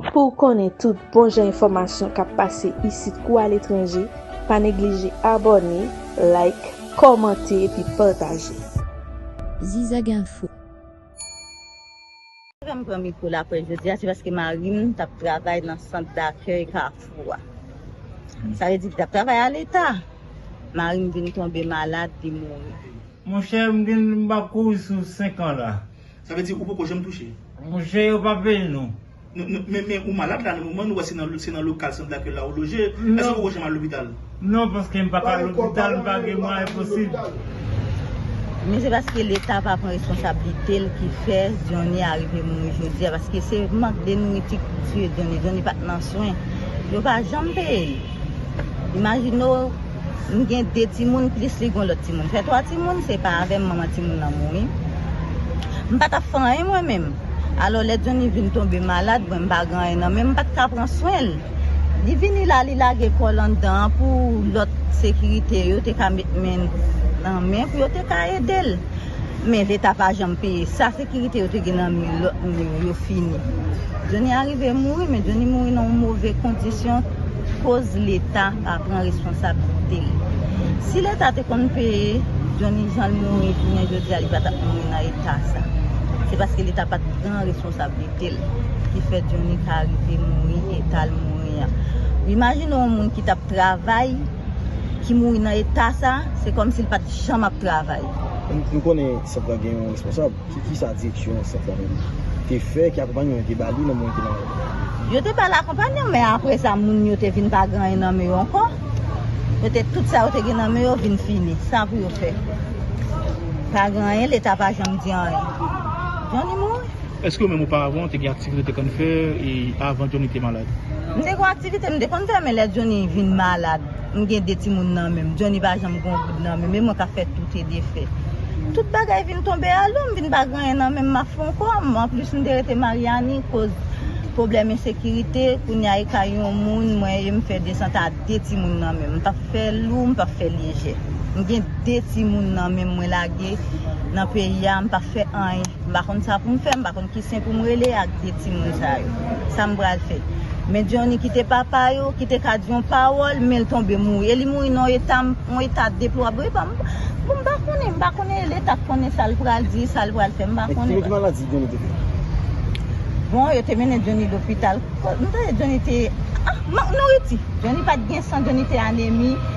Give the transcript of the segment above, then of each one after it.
Pou w konnen tout bon jan enfòmasyon k ap pase isit kou aletranje, pa neglije abòne, like, kòmante epi pataje. Zizag info. Sa fè m pran mikwo laprès jodi a se paske mari m t ap travay nan sant dakèy Kafou a. Sa vle di li t ap travay a leta. Mari m vin tonbe malad, li mouri. Monchè m gen m pa kouri sou 5 ans la. Sa vle di ou poko janm touche? Mouche yo pa peye nou. Men ou malad la nan moman nou wè se nan lokal sant daky la ou loje, èske ou poko janm al lopital? Non paske m paka al lopital m pa gen mwayen posib. Men se paske leta pa pran responsablite l ki fè Johnny a rive mouri jodi a paske se mank de nouriti ki tiye Johnny, Johnny pat nan swen yo pa janm peye l imajine w M gen 2 timoun plis li gon lòt timoun fè 3 timoun se pa avèm manman timoun nan mouri m pa tap fè anyen mwen menm alò lè Johnny vin tonbe malad mwen m pa gen anyen nan menm m pat ka pran swen l li vini la li lage kòl anndan an pou lòt sekirite yo te ka met men nan men pou yo te ka edel. Men leta pa janm peye sa sekirite yo te gen nan mi lòt moun yo yo fini Johnny a rive mouri men Johnny mouri nan yon move kondisyon koz leta pa pran responsabilite li si leta te konn peye Johnny jan l mouri jounen jodi a li pa tap mouri nan eta sa se paske leta pat pran responsabilite l ki fè Johnny ka rive mouri eta l mouri an imajine yon moun ki tap travay ki mouri nan eta sa, se kòmsi l pa t janm ap travay. M konnen sant lan gen yon responsab. Kisa direksyon sant lan menm te fè? Ki akonpanyeman yo te ba li nan moman li te malad? Yo te ba l akonpanyeman, men apre sa moun yo te vin pa gen anyen nan men yo ankò. Yo te tout sa yo te gen nan men yo vin fini. Sa pou yo fè? Pa gen anyen, leta pa janm di anyen. Jan li mouri. Eske ou menm ou pa avan ou te gen aktivite ou te konn fè e avan Johnny te malad? M te gon aktivite m te konn fè men lè Johnny vin malad m gen 2 timoun nan menm Johnny pa janm gon goud nan menm e mwen kap fè tout e defè tout bagay vin tonbe alou m vin pa gen anyen nan menm map fon kò m anplis m te rete Maryani koz pwoblèm ensekirite kounye a e kay yon moun mwen ye m fè desant a 2 timoun nan menm m pap fè lou m pap fè lyejè m gen 2 timoun nan menm mwen lage nan peyi a m pap fè anyen. M pa konn sa pou m fè, m pa konn ki sen pou m rele ak de timoun sa yo. Sa m pral fè? Men Johnny ki te papa yo, ki te ka di yon pawòl, men l tonbe mouri. E li mouri nan yon eta, yon eta deplorable. Bon, m pa konnen, m pa konnen e leta k konnen sa l pral di, sa l pral fè, m pa konnen. Ki maladi Johnny te fè? Bon, yo te mennen Johnny lopital. M tande Johnny te, ah, mank nouriti. Johnny pa t gen san, Johnny te anemi.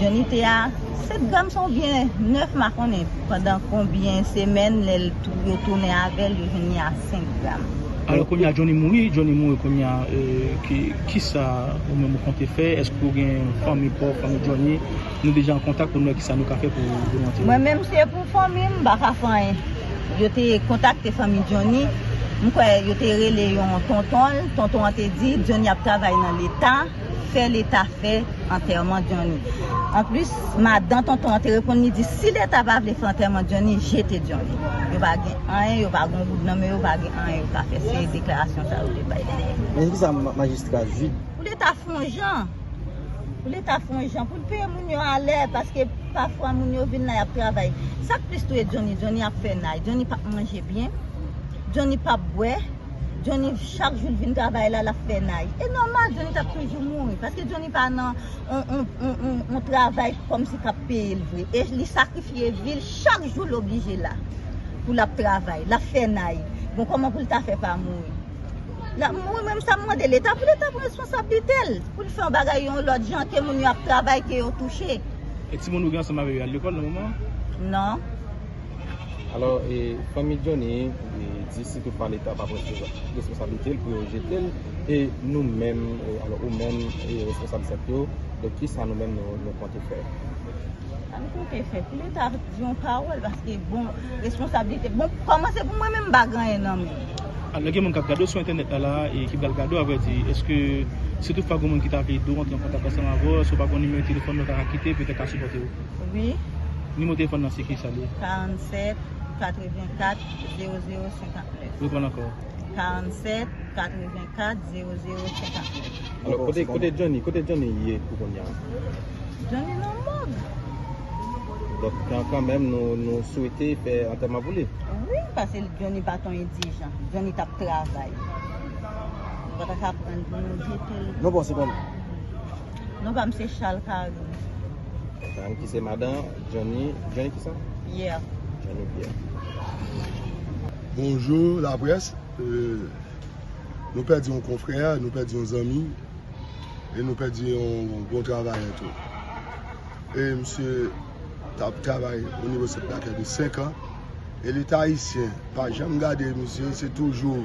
Johnny te a 7 gram sa oubyen 9 ma konnen pandan konbyen semèn lè l yo tounen avèl yo jwenn li a 5 gram. Alò kounye a Johnny mouri, Johnny mouri kounye a kisa ou menm ou konte fè èske ou gen fanmi pa w fanmi Johnny nou deja an kontak pou nou wè kisa nou ka fè pou nou antere l. Mwen menm si se pou fanmi m m pa ka fè anyen yo te kontakte fanmi Johnny m kwè yo te rele yon tonton l tonton an te di Johnny ap travay nan leta. fè leta fè antèman Johnny anplis madan tonton an te reponn li di si leta pa vle fè antèman Johnny jete Johnny yo pa gen anyen yo pa gen yon goud nan men yo pa gen anyen yo ka fè se deklarasyon sa yo te bay dèyè. Men se kisa majistra Jude. Pou leta fè yon jan pou leta fè yon jan pou l peye moun yo a lè paske pafwa moun yo vin la y ap travay sa k plis touye Johnny Johnny ap fè nay Johnny p ap manje byen Johnny p ap bwè Jhonny chak jou li vin travay la lap fè nay e nòmal Jhonny tap toujou mouri paske Jhonny pa nan yon travay kòmsi kap peye l vre e li sakrifye vi l chak jou l oblije la pou lap travay lap fè nay bon kòman pou l ta fè pa mouri lap mouri mwen sa m mande leta pou leta pran responsablite l pou l fè yon bagay yon lòt jan ke moun yo ap travay ke yo touche. E timoun ou gen ansanm avè yo al lekòl nan moman an? Non. Alò e fanmi Johnny di si tout pa leta pa pran responsabilite l pou yo jete l e nou menm alò ou menm e responsab sèk yo donk kisa nou menm nou konte fè? Sa nou konte fè pou leta di yon pawòl paske bon responsabilite bon kòman se pou mwen menm m pa gen anyen nan men. Alò gen moun k ap gade w sou entènèt la la e ki pral gade w avrèdi èske si tout fwa gen yon moun ki ta vle ede w antre an kontak ansanm avè w èske w pa gen yon nimewo telefòn nou ta ka kite petèt ka sipòte w? Wi. Nimewo telefòn nan se kisa li? 47 84 00 59. Reprann ankò. 47 84 00 59. Alò, kote, kote Johnny, kote Johnny ye pou kounya? Johnny nan mòg. Donk, kan, kanmenm nou, nou swete fè antèman pou li? Wi, pase Johnny pa t on endijan. Johnny t ap travay. Nou pa ta ka prann pou nou jete l. Non bon, se bon. Non pam se chal karin. Karin ki se madan Johnny, Johnny ki sa? Pierre. Johnny Pierre. Bonjour la presse. Euh... Nou pèdi yon konfrè, nou pèdi yon zanmi, e nou pèdi yon bon travayè tou. E msye tap travay o nivo se plakè de 5 an, e leta ayisyen pa janm gade msye, se toujou.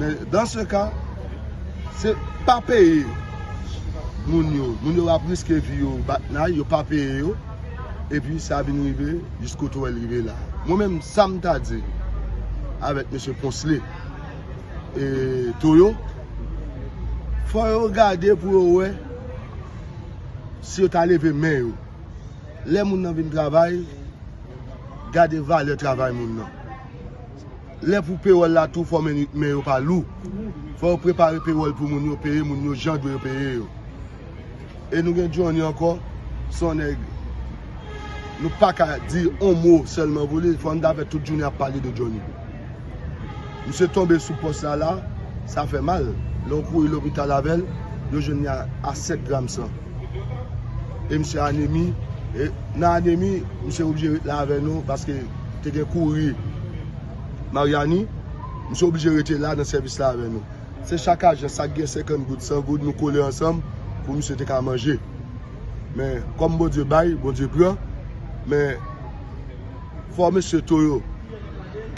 Men dans se ka, se pa peye moun yo. Moun yo ap riske vi yo bat nay, yo pa peye yo. E pi sa vin rive, jis kote ou wè l rive la. Mwen menm sa m ta di avèk mesye Ponsley e Toyo, fò yo gade pou yo wè si yo ta leve men yo. Lè moun nan vin travay, gade valè travay moun nan. Lè pou pewòl la tou fò men yo pa lou. Fò yo prepare pewòl pou moun yo, peye moun yo jan dwe yo peye yo. E nou gen Johnny ankò, son nèg nou pa ka di on mo sèlman pou li, fò nou ta fè tout jounen ap pale de Johnny. Misye tonbe sou pòs la la, sa fè mal. Lè ou kouri lopital avè l, yo jwenn li a 7 gram san. e misye anemi, e nan anemi misye oblije ret la avè nou paske te gen kouri Maryani, misye oblije rete la nan sèvis la avè nou. Se chak ajan sa gen 50 goud, 100 goud nou kole ansanm pou misye te ka manje. Men kòm Bondye bay, Bondye pran, men fò mesye Toyo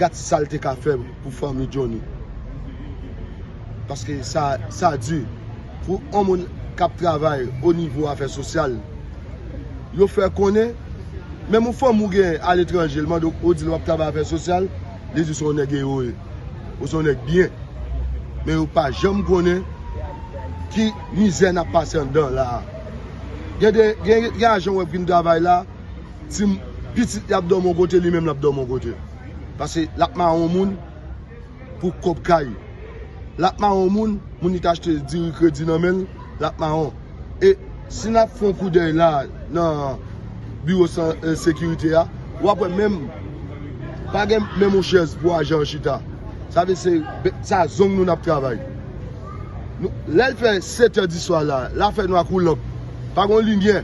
gad sa l te ka fè pou fanmi Johnny. paske sa di pou yon moun k ap travay o nivo afè sosyal yo fè konnen menm yon fanmi ou gen aletranje l mande w ou di l w ap travay afè sosyal li di w se yon nèg ewo ye ou se yon nèg byen men yo pa janm konnen ki mizè n ap pase anndan la a gen de gen ajan w wè k vin travay la ti pitit li ap dòmi yon kote li menm l ap dòmi yon kote paske l ap mawon moun. pou kob kay lap maron moun moun li t achte diri kredi nan menl lap maron e si nap fon koudèy la nan biwo san sekirite a wap wè menm pa gen menm yon chèz pou ajan an chita sa vle se sa zong nou nap travay lèl fè setè diswa la la fè nwa kou lanp pa gon limyè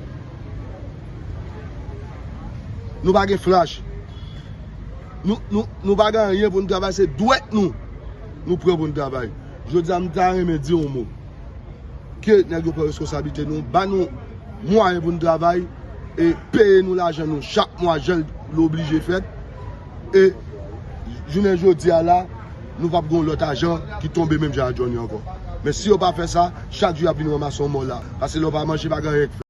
nou pa gen flach. Nou pa gen anyen pou nou travay se dwèt nou nou pran pou nou travay. Jodi a m ta renmen di yon mo. Ke nèg yo pran reskonsablite nou, ba nou mwayen pou nou travay e peye nou lajan nou chak mwa jan l oblije fèt. E jounen jodi a la nou pap gen yon lòt ajan ki tonbe menm jan ak Johnny ankò. Men si yo pa fè sa, chak jou y ap vin ranmase yon mò la. Pase lè w pa manje pa gen anyen k fèt.